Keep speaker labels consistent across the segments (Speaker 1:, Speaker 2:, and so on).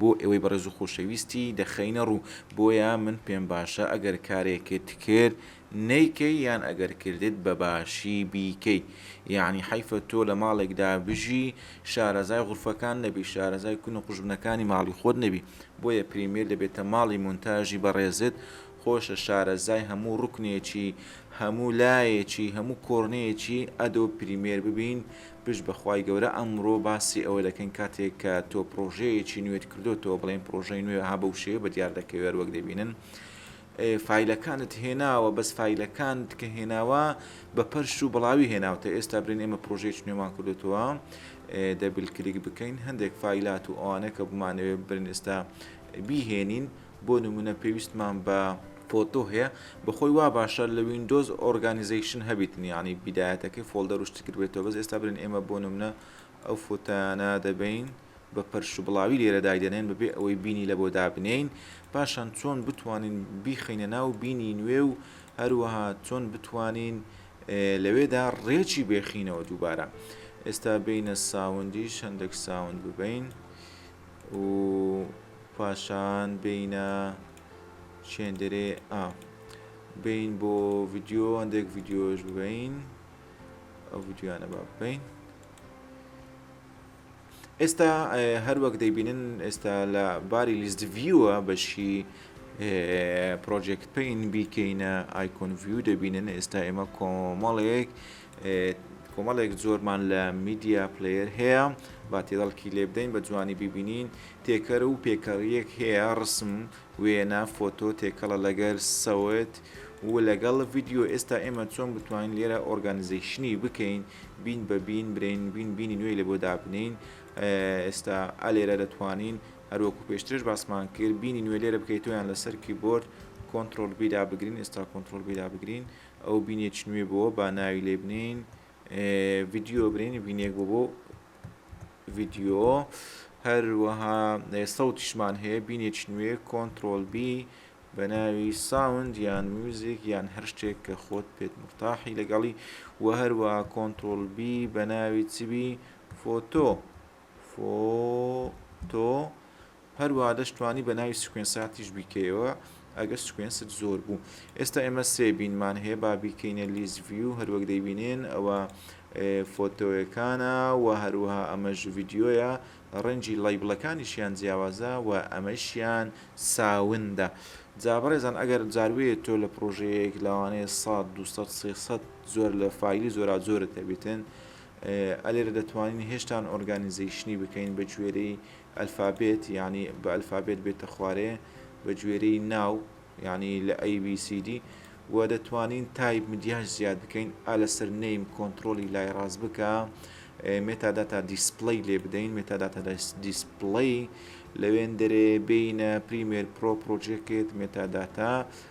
Speaker 1: بۆ ئێوەی بەڕێز و خۆشەویستی دەخەینە ڕوو، بۆیە من پێم باشە ئەگەر کارێکت کرد نەیکەی یان ئەگەر کردت بە باشی بیکەی یەعنی حەیفە تۆ لە ماڵێکدا بژی شارەزای غورفەکان نەبی شارەزای کون و قوژبنەکانی ماڵی خۆت نەبی بۆیە پریمیر دەبێتە ماڵی مونتاژی بەڕێزت خۆشە شارەزای هەموو ڕوکنێکی هەموو لایەکی هەموو کۆرنەیەکی ئەدۆب پریمێر ببین پشت بەخوای گەورە ئەمڕۆ باسی ئەوە دەکەین کاتێک کە تۆ پڕۆژەیەکی نوێت کردۆتەوە بڵێین پڕۆژەی نوێ ها بەو شێوە بەدیار دەکەوێت وەک دەبینن فیلەکانت هێناوە بەس فیلەکانت کە هێناوە بە پەرش و بڵاوی هێناوتە ئێستا برین ئێمە پرۆژێک نوێمان کردوتەوە دەبل کلیک بکەین هەندێک فیلات و ئەوانە کە بمانەوێت برین ئێستا بیهێنین بۆ نمونە پێویستمان بە فۆتۆ هەیە بەخۆی وا باشە لە ویندۆز ئۆرگانیزەیشن هەبیتن یعنی بیدایەتەکەی فۆڵدەر و شتی تر بێتەوە بەس ئێستا برێن ئێمە بۆ نمونە ئەو فۆتانە دەبین بە پەرش و بڵاوی لێرە دایدەنێن بەبێ ئەوەی بینی لە بۆ دابنین پاشان چۆن بتوانین بیخینە ناو بینی نوێ و هەروەها چۆن بتوانین لەوێدا ڕێکی بێخینەوە دووبارە ئێستا بینە ساوندی شەندێک ساوند ببین و پاشان بینە چێندرێ ئا بین بۆ ڤیددیو هەندێک ڤیددیۆش ببین ئەو ڤیددیوانە با بکەین ئێستا هەروەک دەیبینن ئێستا لە باری لیست ڤیوە بەشی پرۆژێکت پین بیکەینە ئایکۆن ڤیو دەبینن ئێستا ئێمە کۆمەڵێک کۆمەڵێک جۆرمان لە میدیا پلەیەر هەیە با تێدەڵکی لێ بدەین بە جوانی ببینین تێکەر و پێکەڕیەک هەیە ڕسم وێنە فۆتۆ تێکەڵە لەگەر سەوت و لەگەڵ ڤیددیو ئێستا ئێمە چۆن بتوانین لێرە ئۆرگانزیشنی بکەین بین بە بین برین بین بینی نوێی لە بۆ دابنین ئێستا ئەلێرە دەتوانین هەروەکو پێشترش باسمان کرد بینی نوێ لێرە بکەیتۆیان لەسەر کیبۆرد کۆنتترۆل بیدا بگرین ئێستا کۆنتترۆل بیدا بگرین ئەو بینێکی نوێ بووە با ناوی لێ بنین ڤیددیو برین بینێک بۆ بۆ ڤیددیۆ هەروەها سەوتیشمان هەیە بینێکی نوێ کۆنتترۆل بی بە ناوی ساوند یان میوزیک یان هەر شتێک کە خۆت پێت مرتاحی لەگەڵی و هەروە کۆنتترۆل بی بە ناوی چبی فۆتۆ فۆتۆ، هەروەها دەشتوانی بە ناوی سیکوێنساتیش بیکەیەوە ئەگەر سیکوێنست زۆر بوو. ئێستا ئێمە سێ بینمان هەیە با بیکەینە لیست ڤیو هەروەک دەیبینێن ئەوە فۆتۆیەکانە و هەروەها ئەمەش ڤیدیۆیە ڕەنجی لایبلەکانیشیان جیاوازە و ئەمەشیان ساوندە جا بەڕێزان ئەگەر جاروێ تۆ لە پرۆژەیەک لەوانەیە 100 200 300 زۆر لە فایلی زۆرا زۆرت هەبێتن ئە لێرە دەتوانین هێشتان ئۆرگانیزەیشنی بکەین بە گوێرەی ئەلفابێت یعنی بە ئەلفابێت بێتە خوارێ بە گوێرەی ناو یعنی لە ABCD و دەتوانین تایپ مدیاش زیاد بکەین ئا لەسەر نیم کۆنتترۆلی لای ڕاست بکە مێتاداتا دیسپلی لێ بدەین مێتاداتا دیسپلی لەوێن دەرێ بینە پریمێر پرۆ پرۆژێکێت مێتاداتا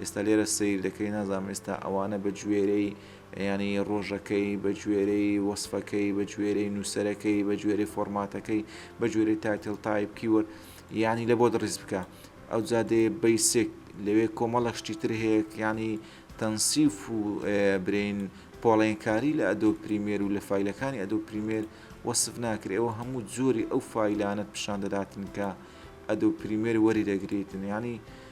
Speaker 1: ئێستا لێرە سەیر دەکەی نازانم ئێستا ئەوانە بە گوێرەی یانی ڕۆژەکەی بە گوێرەی وەسفەکەی بە گوێرەی نووسەرەکەی بە گوێرەی فۆرماتەکەی بە گوێرەی تایتڵ تایپ کیوەرد یانی لە بۆت ڕیز بکە ئەوجا دێ بەیسک لەوێ کۆمەڵە شتی تر هەیە یانی تەنسیف و برین پۆڵێنکاری لە ئەدۆ پریمێر و لە فیلەکانی ئەدۆ پریمێر وەسف ناکرێ ئەوە هەموو جۆری ئەو فیلانت پیشان دەداتن کە ئەدۆ پریمێر وەری دەگریتن ینی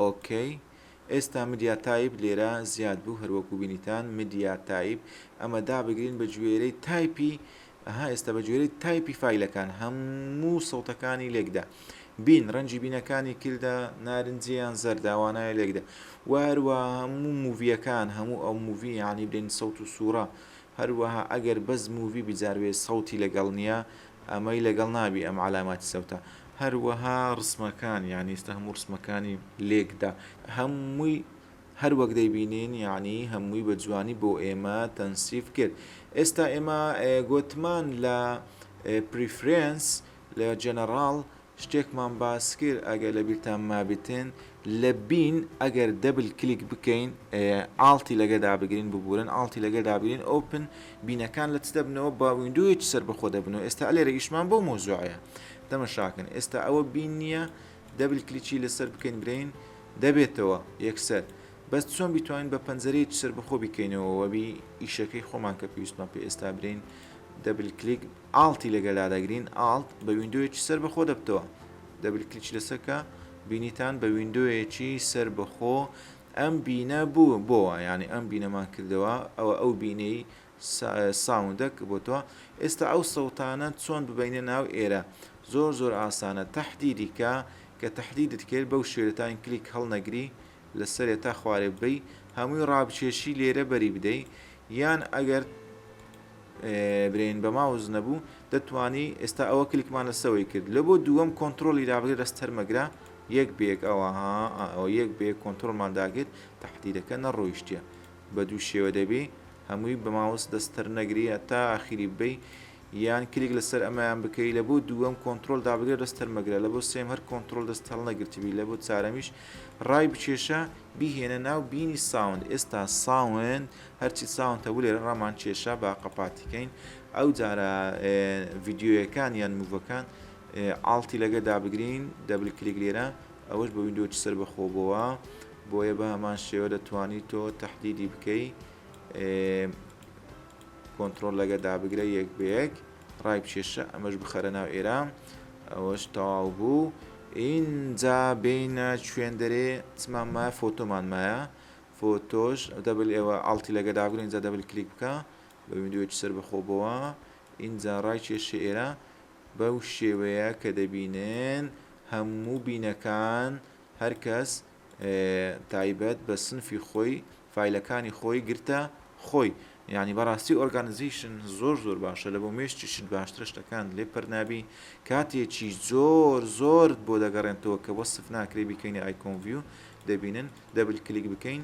Speaker 1: ئۆکەی ئێستا مدیا تایپ لێرە زیاد بوو هەر وەکو بینیتان مدیا تایپ ئەمە دابگرین بە گوێرەی تایپی ئەها ئێستا بە گوێرەی تایپی فایلەکان هەموو سەوتەکانی لێکدا بین ڕەنجی بینەکانی کردە نارنجیان زەرداوانایە لێکدا واروا هەموو موڤیەکان هەموو ئەو موڤی یعنی بلین سەوت و سوورە هەروەها ئەگەر بەس مووی بجاروێ سەوتی لەگەڵ نییە ئەمەی لەگەڵ نابی ئەم علامات سوتە هەروەها ڕسمەکان یانی ئێستا هەموو ڕسمەکانی لێکدا هەمووی هەر وەک دەیبینین یانی هەمووی بە جوانی بۆ ئێمە تەنسیف کرد ئێستا ئێمە گۆتمان لە پریفرێنس لە جەنەڕاڵ شتێکمان باسکرد ئەگەر لەبیرتان مابتن لە بین ئەگەر دەبل کلیک بکەین ئاڵتی لەگە دابگرین ببورن ئاڵتی لەگە دابگرین ئۆپن بینەکان لە چ دەبنەوە با ویندۆیەکی سەر بەخۆ دەبنەوە ئێستا لێرە ئیشمان بۆ مۆزوعەیە تەمەشاکەن ئێستا ئەوە بین نییە دەبل کلیچی لەسەر بکەین برین دەبێتەوە یەکسەر بەس چۆن بیتوانین بە پەنجەرەیەکی سەر بەخۆ بیکەینەوە وەبی ئیشەکەی خۆمان کە پێویستمان پێ ئێستا برین دەبل کلیک ئاڵتی لەگەر لادەگرین ئاڵت بە ویندۆیەکی سەر بەخۆ دەبتەوە دەبل کلیکی لەسەر کە بینیتان بە ویندۆیەکی سەر بەخۆ ئەم بینە بوو بۆوە یانی ئەم بینەمان کردەوە ئەوە ئەو بینەی ساوندە کە بۆتۆ ئێستا ئەو سەوتانە چۆن ببەینە ناو ئێرە زۆر زۆر ئاسانە تەحدیدی کە کە تەحدیدت کرد بەو شێوە تاین کلیک هەڵنەگری لەسەرێ تا خوارێ ببەی هەمووی ڕابکێشی لێرە بەری بدەی یان ئەگەر برێن بە ماوس نەبوو دەتوانی ئێستا ئەوە کلکمان لەسەوەی کرد لە بۆ دووەم کۆنتترۆلی دابگرێت لەس تەرمەگرە یەک بێک ئەوە ئەوە یەک بێ کۆنتترۆلمان داگرت تهدیدەکە نەڕۆیشتە بە دوو شێوە دەبی هەمووی بە ماوس دەستەر نەگری تا ئاخیری ببی یان کلیک لەسەر ئەمایان بکەی لە بۆ دووەم کۆنتترۆل دابگرێت لەس تەرمەگرە لە بۆ سێم هەر کۆنتترۆل دەست هەڵ نەگرتبی لە بۆ چارەمیش ڕای بچێشە بیهێنە ناو بینی ساوند ئێستا ساوند هەرچی چاوانتە ولێرە ڕامان کێشا با قەپاتی کەین ئەو جارە ڤیدیۆیەکان یان موڤەکان ئاڵتی لەگە دابگرین دەبل کلیک لێرە ئەوەش بە ویندۆکی سەر بەخۆبەوە بۆیە بە هەمان شێوە دەتوانی تۆ تهدیدی بکەی کۆنتترۆل لەگە دابگرە یەک بەیەک ڕای بچێشە ئەمەش بخەرە ناو ئێرە ئەوەش تەواو بوو ئینجا بینە شوێندەرێ چمانمایە فۆتۆمانمایە فۆتۆش دەبل ئێوە ئاڵتی لەگە داگرە ئینجا دەبل کلیک بکە بە ویندۆیەکی سەر بەخۆ بۆوە ئینجا ڕای کێشە ئێرە بەو شێوەیە کە دەبینن هەموو بینەکان هەر کەس تایبەت بە سنفی خۆی فایلەکانی خۆی گرتە خۆی یعنی بەڕاستی ئۆرگانزیشن زۆر زۆر باشە لە بۆ مێشتی شت باشترە شتەکان لێ پەرنابی کاتێکی زۆر زۆرت بۆ دەگەڕێنتەوە کە وەسف ناکرێ بیکەینە ئایکۆنڤیو دەبینن دەبل کلیک بکەین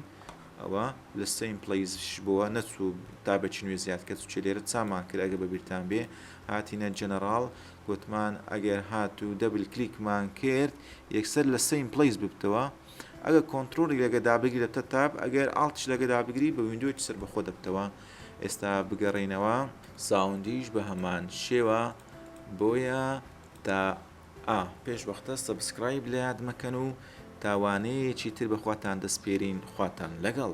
Speaker 1: ئەوە لە سەین پلەیزش بۆوە نەچوو تا بەچی نوێ زیاد کە چ لێرە چامان کرد ئەگە بەبییران بێ هاتیینە جەنەڕاڵ گوتمان ئەگەر هات و دەبل کلیکمان کرد یەکسەر لە سەین پلیس ببتەوە ئەگە کۆنتترۆلی لەگە دابگری لە تە تاب ئەگەر ئاڵتش لەگە دابگری بە ویندۆی سەر بەخۆ دەبتەوە ئێستا بگەڕینەوە ساوندیش بە هەمان شێوە بۆیە تا ئا پێش وەختە سەبسکرایب لەیاد مەکەن و تا وانەیەکی تر بەخواتان دەسپێرین خواتان لەگەڵ.